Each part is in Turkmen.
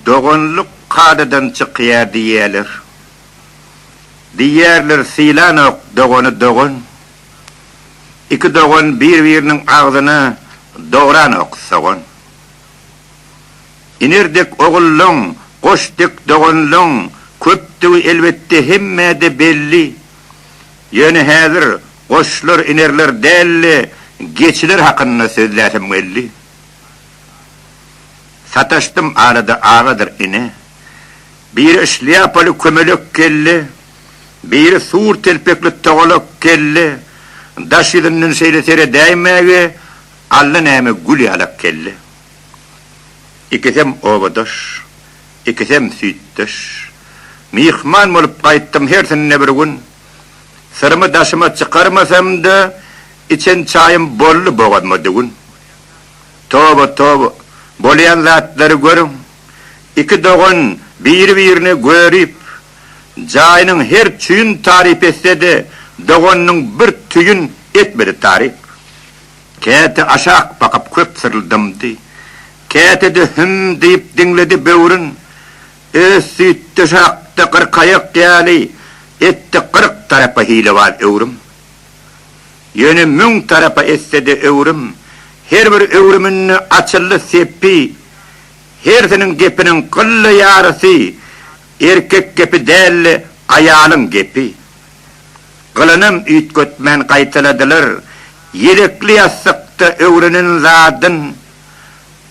Doganlyk kadadan çykýar diýýärler. Diýýärler sylanok dogany dogan. Iki dogan bir-biriniň agzyna dogranok sogan. Iner dek ogullaň, goş dek doganlaň köpdügi elbetde hemmä-de belli. Ýöne häzir goşlar, inerler däl-de, geçiler hakynda sözläsem geldi. Sataşdym arada agadyr ine. Biri şlýapaly kömelek geldi, biri sur telpekli togalak geldi, daş ýüzünden şeýle seredäýmäge allanäme gül ýalak geldi. Ikisem obadaş, ikisem süýtdeş. Myhman bolup gaýtdym hersinde bir gün. Syrymy daşyma çykarmasam-da, içen çaýym boldy bogazma düwün. Toba, toba! Bolýan zatlary görüň! Iki dogan biri-birini görüp, jaýynyň her tüýün taryp etse-de, doganynyň bir tüýün etmedi taryp. Käte aşak bakyp köp syryldamdy. Käte-de hüm diýip diňledi böwrün. Öz süýtdeş akdy gyrkaýak ýaly, etdi gyrk tarapa hilebaz öwrüm. Ýöne müň tarapa etse-de öwrüm, her bir öwrüminde açyldy sepbi, hersiniň gepiniň gylla ýarysy erkek gepi däldi, aýalyň gepi. Gylanam üýtgetmän gaýtaladylar, ýelekli ýassykda öwrenen zadyn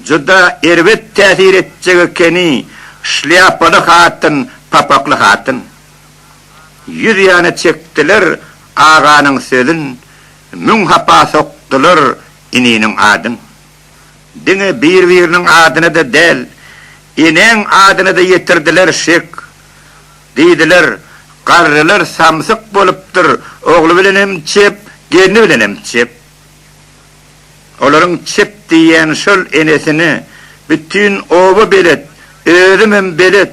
juda erbet täsir etjek ekeni, şlýapaly hatyn, papakly hatyn. Ýüz ýana çekdiler aganyň sözün, Müň hapa sokdular ininiň adyn. Diňe bir-biriniň adyna-da däl, Enäň adyna-da ýetirdiler şek. Diýdiler, Garrylar samsyk bolupdyr, Ogly bilenem çep, gelni bilenem çep. Olaryň çep diýýän şol enesini Bütin oba belet, özümem belet,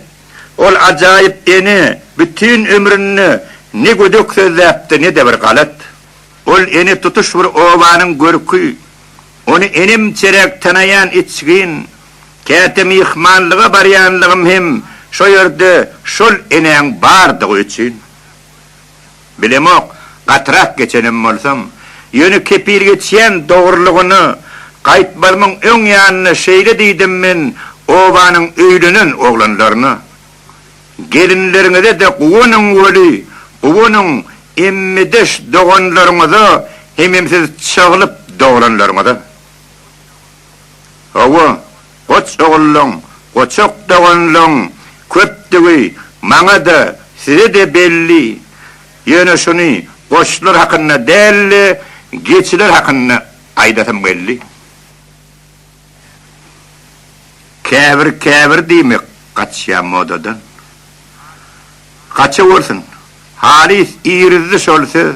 Ol ajaýyp ene bütin ömründe ne gödek sözläpdi, ne-de bir galat. Ol ene tutuş bir obanyň görki. Ony enemçeräk tanaýan içgin. Käte myhmanlyga barýanlygym hem şo ýerde şol enäň bardygy üçin. Bilemok, gatyrak geçenem bolsam. Ýöne kepil geçýän dogrulygyna gaýtmalymyň öň ýanyna şeýle diýdim men obanyň öýlenen oglanlaryna. Gelinleriňize-de guwanyň weli, guwanyň emmedeş doganlaryňyza hemem siz çaglyp doglanlaryňyza. Hawa, Goç ogullaň, goçak doganlaň köpdügi maňa-da, size-de belli. Ýöne şuny goçlar hakynda däl-de, geçiler hakynda aýdasym geldi. Käbir-käbir diýmek gaçýar modadan. Gaçawersin. Halys irizdi şol söz.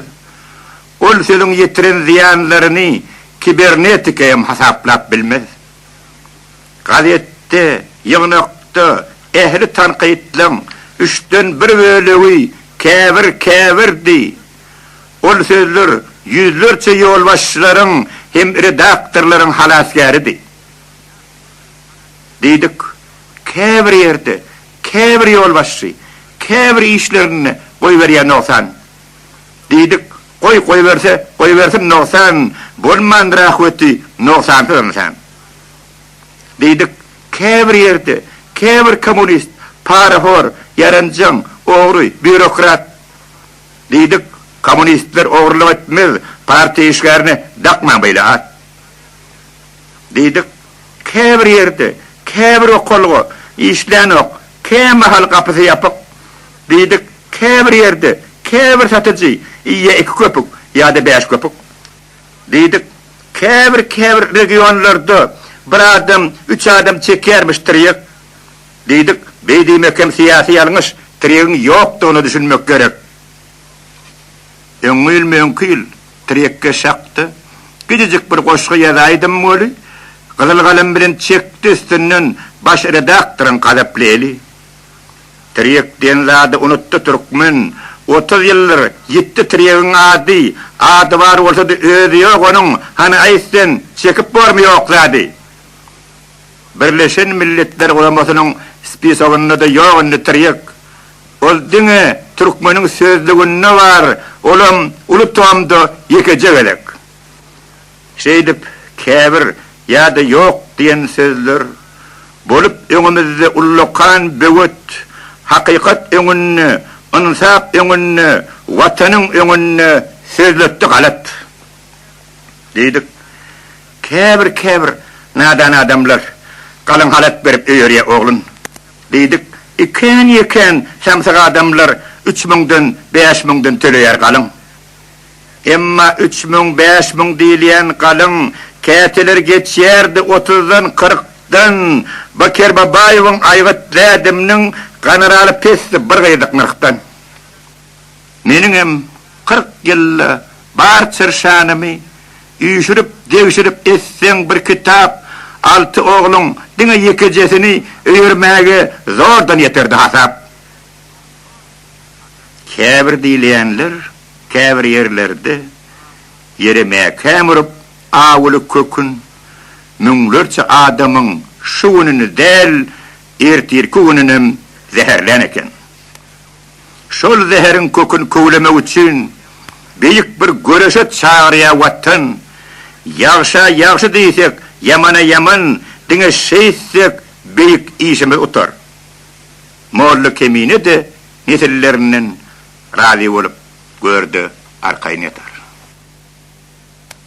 Ol sözüň ýetiren zyýanlaryny kibernetika hem hasaplap bilmez. Gazetde, ýygnakda ähli tankytlaň üçden bir bölegi käbir käbirdi. Ol sözler ýüzlerçe ýolbaşçylaryň hem redaktorlaryň halasgäridi. Diýdik, käbir ýerde, käbir ýolbaşçy, käbir işlerinde goýberýär nogsan, Diýdik, Goý, goýberse, goýbersin, nogsan bolmandyr ahweti, nogsansyz ynsan. Diýdik, Käbir ýerde, käbir kommunist, parahor, ýaranjaň, ogry, býurokrat. Diýdik, Kommunistler ogrulyk etmez, partiýa işgärine dakmaň beýle at. Diýdik, Käbir ýerde, käbir okalga, işlänok, kämahal gapysy ýapyk. Diýdik, käbir ýerde, käbir satyjy, ýa iki köpük, ýa-da bäş köpük. Diýdik, käbir, käbir regionlarda bir adam, üç adam çekýärmiş tirýek. Diýdik, beý diýmek hem syýasy ýalňyş, tirýegiň ýokdugyna düşünmek gerek. Öňňi ýyl, möňki ýyl tirýek geş hakda gijejik bir goşgy ýazaýdym weli, gyzyl galym bilen çekdi üstünden baş redaktoryň gazaply eli. Tirýek diýen zady unutdy türkmen. Otuz ýyldyr ýitdi tirýegiň ady, Ady bar bolsa-da özi ýok onuň, Hany aýt sen, çekip bormy ýok zady? Birleşen Milletler Guramasynyň spisogynda-da ýok indi tirýek. Ol diňe türkmeniň sözlüginde bar, olam uly tomda ýekeje gezek. Şeýdip, käbir ýa-da ýok diýen sözler bolup öňümizde ullakan böwet, hakykat öňünde, ynsap öňünde, Watanyň öňünde sözletdi galat. Diýdik. Käbir-käbir nadan adamlar galyň halat berip öýerýä oglun. Diýdik. Ikän-ýekän samsyk adamlar üç müňden, bäş müňden töleýär galyň. Emma üç müň, bäş müň diýilýän galyň käteler geçýärdi otuzdan, kyrkdan. Baker Babaýewiň Aýgyt dädemniň ganeraly pesdi bir gyzyk nyrhdan. Meniňem kyrk ýylda bar çyrşanymy üýşürip, degşirip etseň bir kitap, alty ogluň diňe ýekejesini öýermäge zordan ýeterdi hasap. Käbir diýilýänler käbir ýerlerde ýere mäkäm urup, awuly kökün müňlerçe adamyň şu gününi däl, ertirki gününem zäherlän eken. Şol zäheriň kökün köwlemek üçin beýik bir göreşe çagyrýar Watan. Ýagşa ýagşy diýsek, ýamana ýaman, diňe şeýtsek beýik işimiz utar. Molla Kemine-de nesillerinden razy bolup gör-de, arkaýyn ýatar.